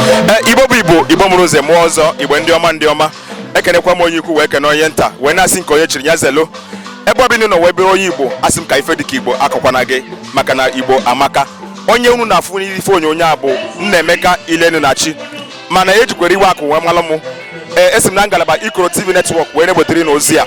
e, igbo bụ igbo igbo mụrụ nze mụọ ọzọ igbo ndị ọma ndị ọma ekenekwa m onye ukwu wee kene onye nta wee na-asị nke onye chiri ya zelo ebe ọbụla ị nọ wee bụrụ onye igbo asị m ka ife dịka igbo akọkwana gị maka na igbo amaka onye unu na-afụ n'ife onyonyo a bụ Nnaemeka Ilenu na chi mana ejikwere iwe akụ wee malụ m ee esi m na ngalaba Ikoro TV netwọk wee na-ewetere unu ozi a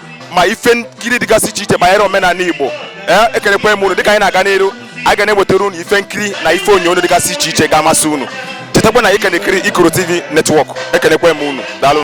ma ife nkiri dịgasị iche iche banyere omenala Igbo ee ekenekwa m unu dịka anyị na-aga n'iru a ga na-ewetara unu ife nkiri na ife onyonyo dịgasị iche iche ga-amasị unu chetakwa na ị ka na-ekiri Ikoro TV netwọk ekenekwa m unu daalụ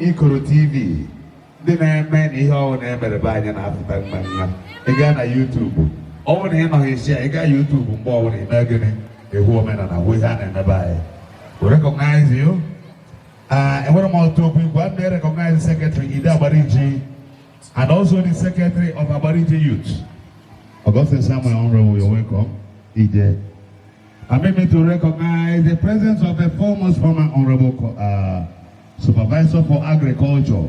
Ikoro TV ndị na-eme na ihe ọwụna e mere be anyị na-apụta mma mma ị gaa na YouTube ọ wụ na ị nọghị isi ya ị gaa YouTube mgbe ọwụna ị mee gịnị ị hụ omenala hụ ihe a na-eme be anyị we recognize you Uh, enwere m ọtụ okwu igwe ndị recognize secretary Ide Agbariji and also the secretary of Agbariji Youth. Augustine Samuel Honorable, you're welcome. Ide. Permit me to recognize the presence of the foremost former Honorable uh, Supervisor for Agriculture,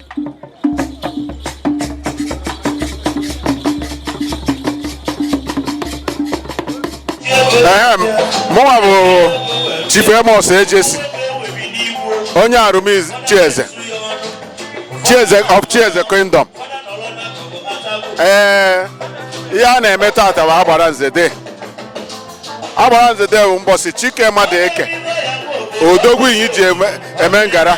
mụnwa bụ Chief Amos Ejesi onye Arumiz Chieze Chieze of Chieze Kingdom ee ihe a na-eme tata bụ agbara nze day agbara nze day bụ mbọsị Chike Madueke odogwu Inyi ji eme ngara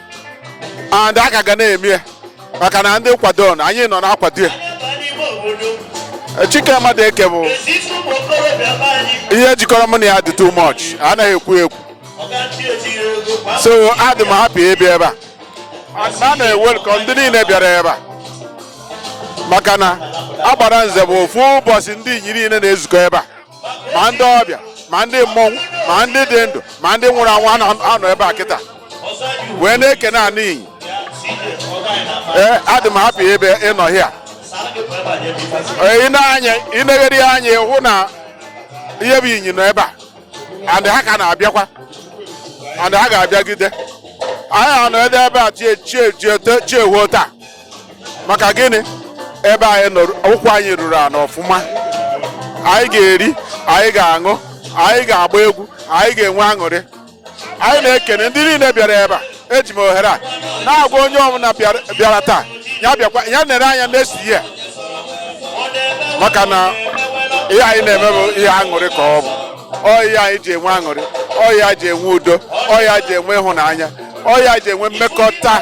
and a ka ga na-eme ya maka na ndị kwado na anyị nọ na-akwado ya Chike Madueke bụ ihe jikọrọ mụ na ya dị too much anaghị ekwu ekwu so adị m happy ịbịa ebe a And a na-ewelcome ndị niile bịara ebe a maka na agbara nze bụ ofu mbọsị ndị Inyi niile na-ezukọ ebe a ma ndị ọbịa ma ndị mmọnwụ ma ndị dị ndụ ma ndị nwụrụ anwụ a nọ ebe a kịta wee na-ekene anị Inyi ee adị m happy ebe ị nọ here ị negharịa anya ị hụ na ihe bụ Inyi nọ ebe a and ha ka na-abịakwa and ha ga-abịagide anyị anọ ebe a chi ehuo taa maka gịnị ebe anyị nọ ụkwụ anyị ruru ala ọfụma anyị ga-eri anyị ga-aṅụ anyị ga-agba egwu anyị ga-enwe aṅụrị anyị na-ekene ndị niile bịara ebe a eji m ohere a na-agwa onye ọbụla bịara taa ya bịakwa ya nere anya na-esi ihe maka na ihe anyị na-eme bụ ihe aṅụrị ka ọ bụ ọ ya anyị ji enwe aṅụrị ọ ya e ji enwe udo ọ ya e ji enwe ịhụnanya ọ ya anyị ji enwe mmekọta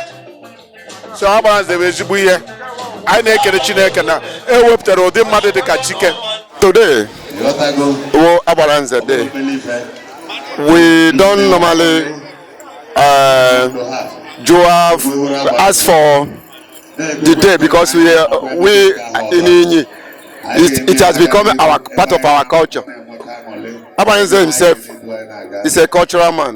so agbara nze bụ ezigbo ihe anyị na-ekele chineke na e wepụtara ụdị mmadụ dị ka chike today wụ agbara nze day we don't normally uh, do have just for the day because we uh, we in Inyi it, it has become our part of our culture. Agbara nze himself is a cultural man.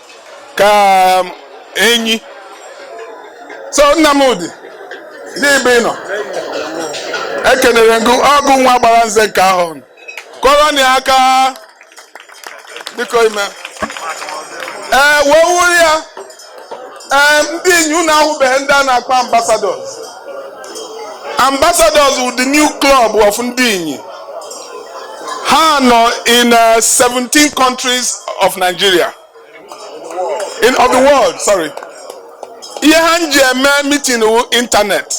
ka um, enyi so Nnamdi n'ebe ị nọ ekenere m gụ ọ gụ wụ agbara nze nke ahụ kụọrọ nụ ya aka biko ime ee wee wuru ya ee ndị inyi unu ahụbeghị ndị a na-akpọ ambassadors ambassadors with the new club of ndị Inyi ha nọ in uh, 17 countries of Nigeria in of the world sorry ihe ha ji eme meeting wụ internet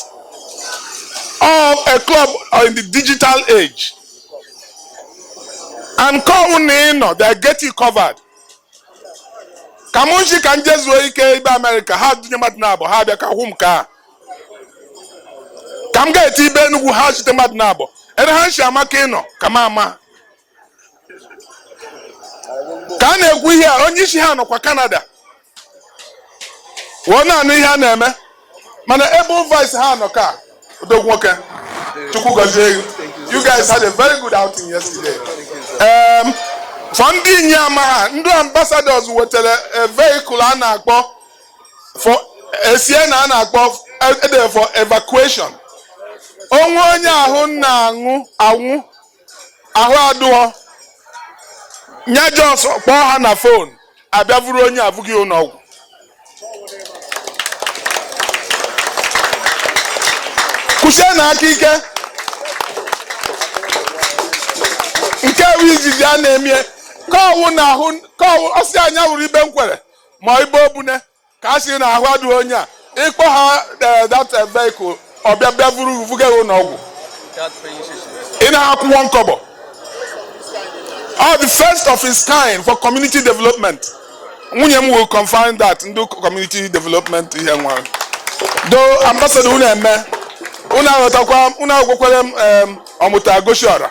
or a club or in the digital age and call na ị nọ they get you covered ka mụ nshi ka m je zuo ike ibe America ha dunye mmadụ naabọ ha bịa ka hụ m ka ka m ga-eti ibe enugwu ha zite mmadụ naabọ ebe ha si ama ka ị nọ ka m ama ka a na-ekwu ihe a onye isi ha nọkwa Canada wụọ na-anụ ihe a na-eme mana ebe vice ha nọ ka odogwu nwoke chukwu gọzie gị you guys had a very good outing yesterday um, for ndị inyi ama ha ndị ambassadors wetara a vehicle a na-akpọ for Sienna a na-akpọ ede for evacuation o nwee onye ahụ na-aṅụ anwụ ahụ adụghị nya just kpọọ ha na phone a bịa vuru onye a vuga ụlọ ọgwụ kụsie nụ aka ike nke bụ izizi a na-emie kọwụ na ahụ kọwụ ọsị anya wụrụ ibe nkwere ma ibe obune ka a sị na ahụ adịghị onye a ị kpọọ ha eh, that eh, vehicle ọ bịa bịa vuru vuga ya ụlọ ọgwụ ị na-akwụ one kobo all the first of its kind for community development nwunye m will confirm that ndị community development ihe nwa do ambassador unu eme unu aghọtakwa unu agwakwere m em, ọmụta gosi ọra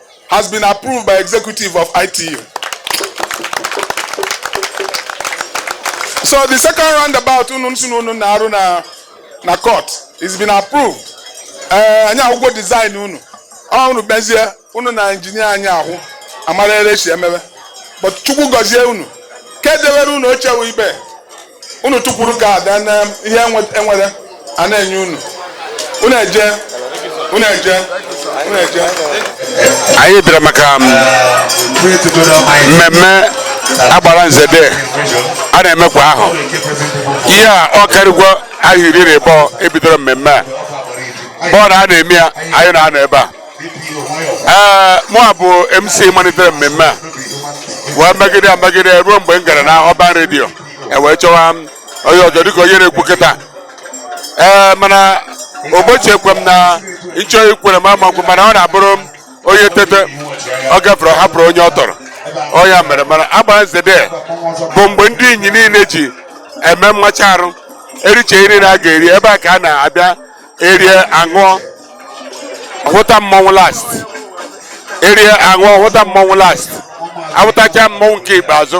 has been approved by executive of ITU. So the second roundabout unu na-arụ na na court is been approved. Eh, anyị ahụgwo design unu ọ unu bezie unu na engineer anyị ahụ amara ere e si emebe but chukwu gọzie unu ka e dewere unu oche ebe unu tukwuru ka ada na ihe e nwere a na-enye unu unu eje unu eje unu eje anyị bịara maka um, mmemme agbara nzede a na-eme kwa ahọ ihe a ọ karịgwo ahọ iri na ịbọ e bidoro mmemme a bụ na a na-eme ya anyị na-anọ ebe a ee mụa bụ mc malitere mmemme a wee megide megide ruo mgbe m gara na urban radio e wee chọwa m onye ọzọ dịka onye na-ekwu okwu taa ee mana ụbọchị ekwe m na ịchọ ikwere m ama nkwe mana ọ na-abụrụ m onye tete ọ gafere ọ hapụrụ onye ọ tọrọ ọ ya mere mana agbara nzede bụ mgbe ndị inyi niile ji eme mmacha arụ e richaa nri na a ga-eri ebe a ka a na-abịa erie aṅụọ hụta mmọnwụ last erie aṅụọ hụta mmọnwụ last ahụtacha mmọnwụ nke ikpeazụ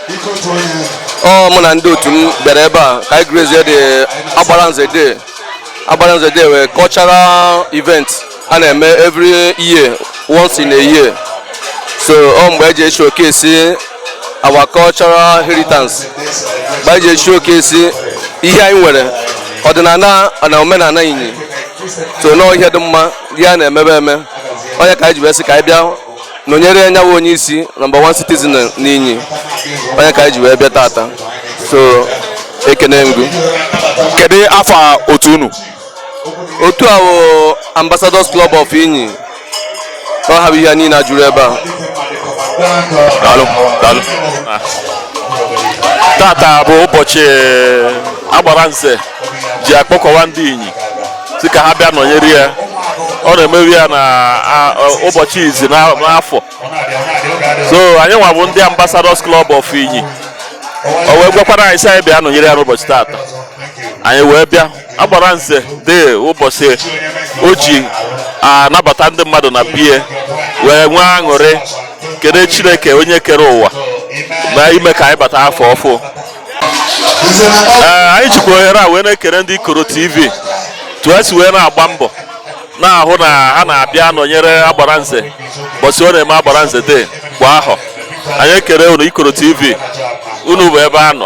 ọ mụ na ndị otu m bịara ebe a ka anyị grace the agbara nze de agbara nze de wụ cultural event a na-eme every year once in a year so ọ mgbe e ji e-showcase our cultural heritage mgbe e ji e-showcase ihe anyị nwere ọdịnala na omenala inyi so na ọ ihe dị mma ihe a na-emebe eme ọ nya ka anyị ji wee sị ka anyị bịa nọnyere nya wa onye isi number one citizen n'inyi ọ nya ka anyị ji wee bịa tata so ekene m gụ kedu afa otu unu otu a bụ ambassadors club of inyi ọ ha bụ ihe niile a jụrụ ebe a daalụ daalụ tata bụ ụbọchị agbara nze ji akpọkọwa ndị inyi sị ka ha bịa nọnyere ya ọ na-emewu ya na a- ọ- ụbọchị izi na- n'afọ so anyị nwa bụ ndị ambassadors club of inyi o wee gwakwara anyị sị anyị bịa nọnyere ya n'ụbọchị taata anyị wee bịa agbara nze dee ụbọchị o ji anabata ndị mmadụ na be ya wee nwee aṅụrị kene chineke onye kere ụwa na ime ka anyị bata afọ ọfụ ee anyị jikwa ohere a wee na-ekere ndị ikoro tv etu ha si wee na-agba mbọ na-ahụ na ha na-abịa anọnyere agbara nze bọsị ọ na-eme agbara nze day kwa ahọ anyị ekere unu ikoro tv unu bụ ebe a nọ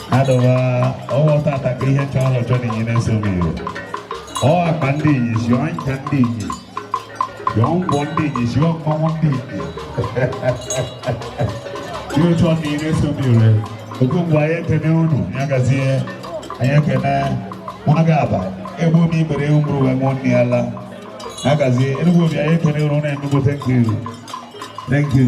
adọwa ọwa tata ka ihe chọọ ọlọchọ na inyi nese omire ọkpa ndị inyi zụọ ncha ndị inyi zụọ ngwọ ndị inyi zụọ mmanwụ ndị inyi ihe otu ọ na inyi nese omire oge mgbe anyị ekene unu ya gazie anyị ekene nwa ga-aba ebe omi ibere ewu mụrụ wee mụọ nne ya la ya gazie enugwu obi anyị ekene unu na-enugote nke iru thank you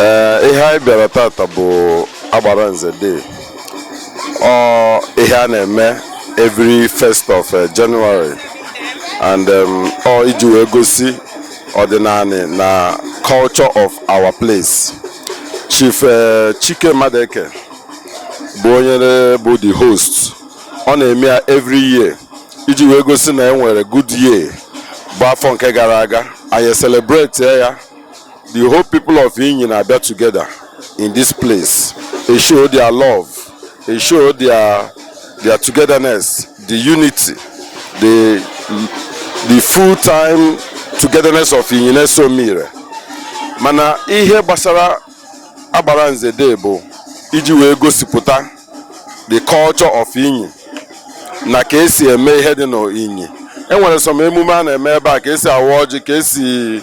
ee ihe anyị bịara tata bụ agbara nze day ọ ihe a na-eme every first of eh, January and um, ọ iji wee gosi ọdịnala na culture of our place Chief eh, Chike Madụeke bụ onye na- bụ the host ọ na-eme ya every year iji wee gosi na e nwere good year bụ afọ nke gara aga anyị celebrate ya the whole people of Inyi na-abịa together in this place they show their love They show their their togetherness, the unity, the the full time togetherness of Inyi nese Omire. Mana ihe gbasara agbara nze day bụ iji wee gosipụta the culture of Inyi na ka esi eme ihe dị n'Inyi. E nwere some emume a na-eme ebe a ka esi awa ọjị ka esi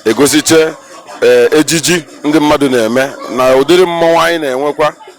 egosiche eh, ejiji ndị mmadụ na-eme na ụdịrị mmọnwụ anyị na-enwekwa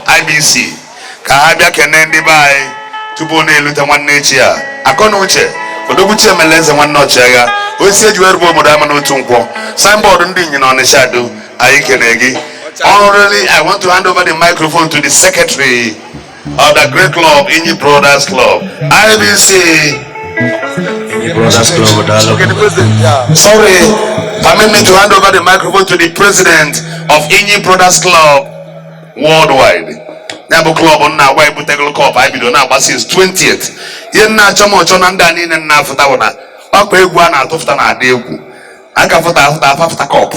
IBC ka ha bịa kene ndị be anyị tupu na-elute nwanne ichie akọ na uche odogwu chiemela eze nwanne ọchịagha osi eji wee rube obodo ama n'otu nkwọ signboard ndị inyi na ọnịsha do anyị kene gị Honorably, I want to hand over the microphone to the secretary of the great club, Inyi Brothers Club, IBC. Brothers Club, Daalụ. Sorry, permit me to hand over the microphone to the president of Inyi Brothers Club, worldwide ya bụ club m na-agwa ebutegolo cup anyị bido na-agba since 20th ihe nna achọ m ọchọ na ndị a niile nna afụta bụ na ọkpa egwu a na-atụfụta na-adị egwu aka fụta afụta apafụta cup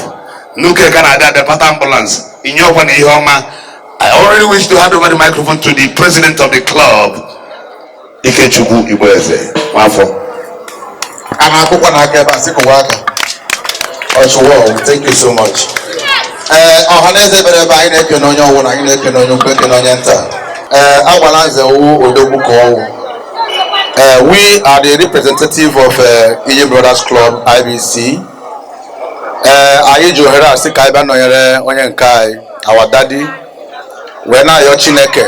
n'uke ka na-adị abịa pata ambulance inyi ọkwa na ihe ọma I already wish to hand over the microphone to the president of the club Ikechukwu Igboeze Nwafọ a na-akwụkwọ na aka ebe a sị kụwa aka ọchụwa thank you so much ee eh, ọha na eze bịara ebe a anyị na-ekene onye ọwụna anyị na-ekene onye ukwu ekene onye nta ee eh, agbalanze ọ wụ odogwu ka ọ wụ eh, we are the representative of uh, Inyi Brothers Club IBC ee anyị ji ohere a sị ka anyị bịa nọnyere onye nke anyị our daddy wee na-ayọ chineke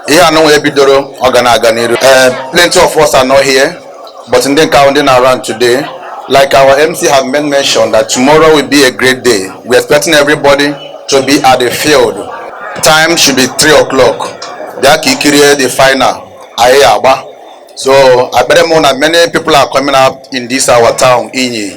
ihe anụnwa e bidoro ọ ga na-aga n'iru eh, plenty of us are not here but ndị nke ahụ ndị nọ around today like our MC have made mention that tomorrow will be a great day we are expecting everybody to be at the field time should be 3 o'clock bịa ka i kirie the final anyị ya-agba so ekwere m na many people are coming up in this our town Inyi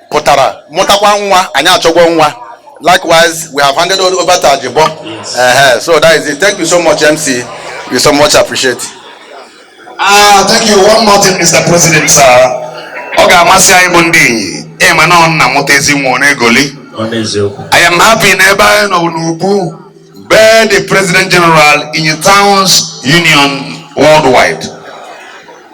pụtara mụtakwa nwa anyị achọgwo nwa likewise we have handed over to Ajibo yes. uh -huh. so that is it thank you so much MC we so much appreciate ah thank you one more thing Mr. President sir ọ ga-amasị anyị bụ ndị Inyi ịma na ọ nna mụta ezi nwa ọ na-egoli I am happy na ebe anyị nọ n'ugbu a be the President General Inyi Towns Union worldwide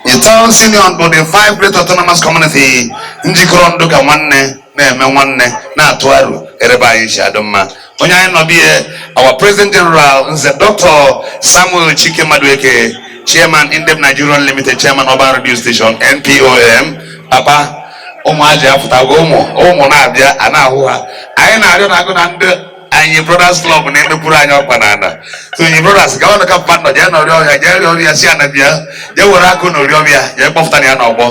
The Towns Union bụ the five great autonomous community njikọrọ ndụ ka nwanne na-eme nwanne na-atụ aro ere be anyị si adị mma onye anyị nọ be ye our president general nze dr samuel chike madueke chairman indev nigerian limited chairman urban radio station npom papa ụmụaji afụtago ụmụ ụmụ na-abịa a na-ahụ ha anyị na-arịọ na agụ na ndị Inyi brothers club na-emekwuru anyị ọkpa na ana so Inyi brothers gawa nụ ka mpa nọ jee nọrị ọhịa jee rịọ ọrịa si ana bịa jee were akụ na ori ọbịa jee kpọpụta na ya n'ọgbọ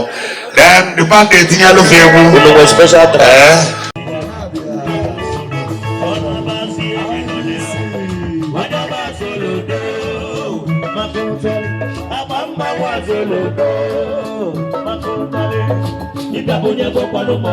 then the band etinye alụfe egwu Olowo special track. ee Onye bụ ọkpalụmọ